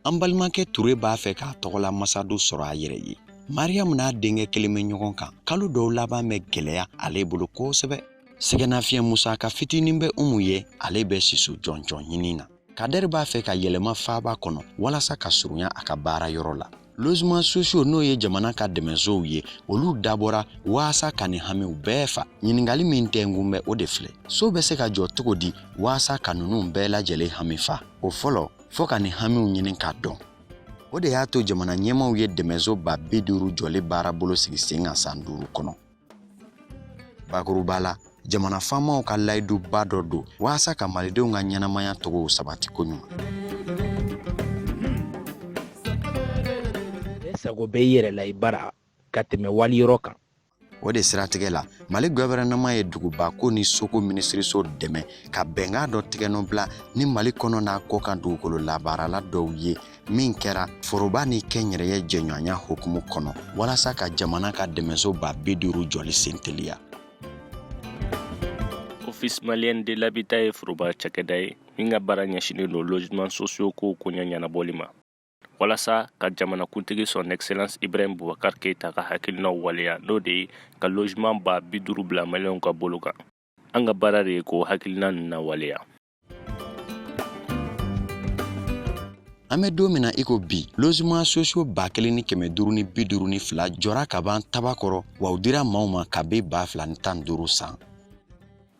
an balimakɛ ture b'a fɛ k'a tɔgɔla masadu sɔrɔ a yɛrɛ ye mariyamu n'a denkɛ kelen bɛ ɲɔgɔn kan kalo dɔw laban bɛ gɛlɛya ale bolo kosɛbɛ sɛgɛnnafiɲɛ musaka fitinin bɛ umu ye ale bɛ siso jɔnjɔn ɲini na kadɛri b'a fɛ ka yɛlɛma faaba kɔnɔ walasa ka surunya a ka baara yɔrɔ la logements sociaux n'o ye jamana ka dɛmɛsow ye olu dabɔra waasa ka nin hamiw bɛɛ fa ɲininkali min tɛnkun bɛ o de filɛ so bɛ se ka jɔ cogo di waasa ka ninnu bɛɛ lajɛlen hami fa o fɔlɔ fo ka nin hamiw ɲini k'a dɔn o de y'a to jamana ɲɛmaaw ye dɛmɛso ba bi duuru jɔli baarabolo sigi sen kan san duuru kɔnɔ bakuruba la jamana faamaw ka layiduba dɔ don walasa ka malidenw ka ɲɛnamaya cogow sabati koɲuman sago bɛ i yɛrɛ la i bara ka tɛmɛ wali yɔrɔ kan o de siratigɛ la mali gɔfɛrɛnaman ye dugubako ni soko minisiriso dɛmɛ ka bɛnkan dɔ tɛgɛnɔ bila ni mali kɔnɔ n'a kɔkan dugukolo labaarala dɔw ye min kɛra foroba ni kɛnyɛrɛye jɛɲɔgɔnya hukumu kɔnɔ walasa ka jamana ka dɛmɛso ba bi duuru jɔli sen teliya office malien de l'habitat ye foroba cakɛda ye min ka baara ɲɛsinnen don logements sociaux kow koɲɛ ɲɛnabɔli ma walasa ka jamanakuntigi son excellence ibrahim bubakar keita ka hakilinaw waleya n'o de ye ka logement ba bi duuru bila maliyɛnw ka bolo kan an ka baara de ye k'o hakilina ninnu nawaleya an bɛ don min na i ko bi logements sociaux ba kelen ni kɛmɛ duuru ni bi duuru ni fila jɔra ka ban tabakɔrɔ wa u dira maaw ma kabi ba fila ni tan duuru san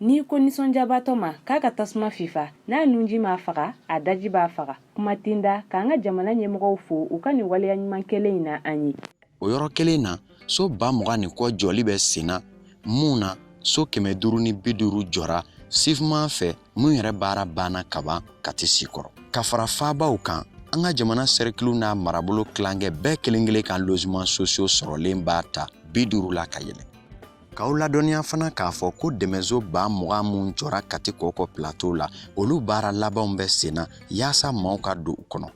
n'i ko nisɔndiyabaatɔ ma k'a ka tasuma fifa n'a nunji m'a faga a daji b'a faga kuma tɛ n da k'an ka jamana ɲɛmɔgɔw fo u ka nin waleya ɲuman kɛlen in na an ye o yɔrɔ kelen na so ba mugan ni kɔ jɔli bɛ senna mun na so kɛmɛ duuru ni bi duuru jɔra sifma fɛ mun yɛrɛ baara banna kaban kati sikɔrɔ ka fara faabaw kan an ka jamana sɛrikiliw n'a marabolo tilankɛ bɛɛ kelen kelen ka logements sociaux sɔrɔlen b'a ta bi duuru la ka yɛlɛ k'aw ladɔnniya fana k'a fɔ ko dɛmɛso ba mugan mun jɔra kati kɔkɔ plateau la olu baara labanw bɛ senna yaasa maaw ka don u kɔnɔ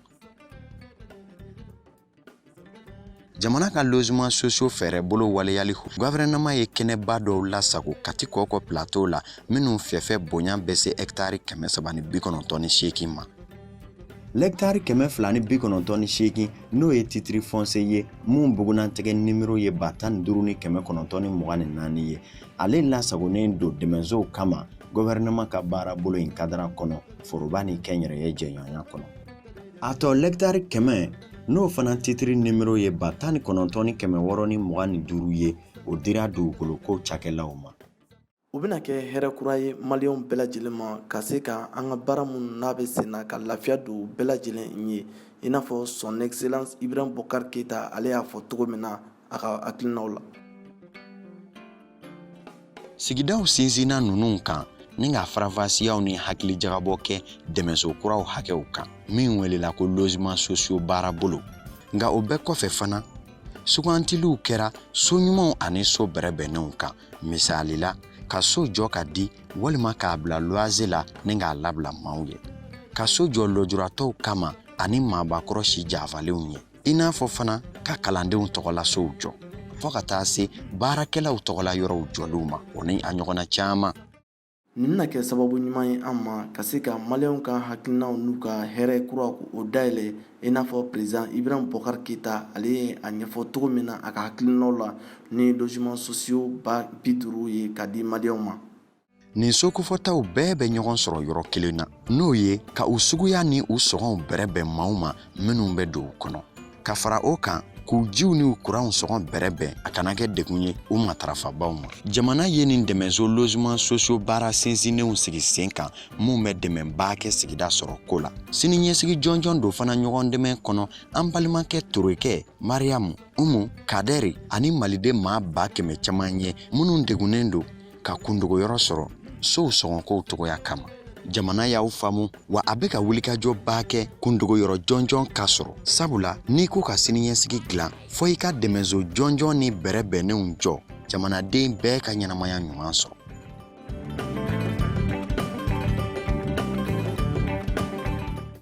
jamana ka logements sociaux fɛɛrɛ bolo waleyali gɔfɛrɛnaman ye kɛnɛba dɔw lasago kati kɔkɔ plateau la minnu fɛfɛ bonya bɛ se hɛktari kɛmɛ saba ni bi kɔnɔntɔn ni seegin ma lɛktari kɛmɛ fila ni bi kɔnɔntɔn ni seegin n'o ye titiri fɔnse ye mun bugunnatigɛ nimero ye ba tan ni duuru ni kɛmɛ kɔnɔntɔn ni mugan ni naani ye ale lasagonen don dɛmɛsow kama gɔfɛrɛnaman ka baara bolo in kadara kɔnɔ foroba ni kɛnyɛrɛye jɛɲɔgɔnya kɔnɔ a tɔ lɛkitari kɛmɛ n'o fana titiri nimero ye ba tan ni kɔnɔntɔn ni kɛmɛ wɔɔrɔ ni mugan ni duuru ye o dira dugukolo ko cakɛlaw ma u bɛna kɛ hɛrɛ kura ye maliyɛnw bɛɛ lajɛlen ma ka se ka an ka baara minnu n'a bɛ sen na ka lafiya don bɛɛ lajɛlen ye i n'a fɔ son excellence ibrahim bokar keyita ale y'a fɔ cogo min na a ka hakilinaw la sigidaw sinsinna ninnu kan ni ka faranfasiyaw ni hakilijagabɔ kɛ dɛmɛso kuraw hakɛw kan min welela ko logements sociaux baara bolo nka o bɛɛ kɔfɛ fana sugantiliw kɛra so ɲumanw ani so bɛrɛbɛnnenw kan misali la ka so jɔ ka di walima k'a bila luwaze la ni k'a labila maaw ye ka so jɔ lojuratɔw kama ani maabakɔrɔ si janfalenw ye i n'a fɔ fana ka kalandenw tɔgɔlasow jɔ fɔɔ ka taa se baarakɛlaw tɔgɔla yɔrɔw jɔliw ma o ni a ɲɔgɔnna caaman nin na kɛ sababu ɲuman ye an ma ka se ka maliyɛnw ka hakilinaw n'u ka hɛrɛ kura o dayɛlɛ i n'a fɔ perezidan ibrahim bokar keyita ale ye a ɲɛfɔ cogo min na a ka hakilinaw la ni logements sociaux ba bi duuru ye ka di maliyɛnw ma nin sokofɔtaw bɛɛ bɛ ɲɔgɔn sɔrɔ yɔrɔ kelen na n'o ye ka u suguya ni u sɔngɔw bɛrɛ bɛn maaw ma minnu bɛ don u kɔnɔ ka fara o kan k'u jiw ni u kuranw sɔngɔ bɛrɛ bɛn a kana kɛ degun ye u matarafabaw ma jamana ye nin dɛmɛso logements sociaux baara sinsinnenw sigi sen kan min bɛ dɛmɛba kɛ sigida sɔrɔ ko la sini ɲɛsigi jɔnjɔn don fana ɲɔgɔn dɛmɛ kɔnɔ an balimakɛ turekɛ mariyamu umu kadɛri ani maliden maa ba kɛmɛ caman ye minnu degunnen don ka kundogoyɔrɔ sɔrɔ sow sɔngɔkow cogoya kama jamana y'aw faamu wa a bɛ ka wulikajɔba kɛ kundogoyɔrɔ jɔnjɔn ka sɔrɔ sabula n'i ko ka siniɲɛsigi dilan fɔɔ i ka dɛmɛso jɔnjɔn ni bɛrɛbɛnnenw jɔ jamanaden bɛɛ ka ɲɛnamaya ɲuman sɔrɔ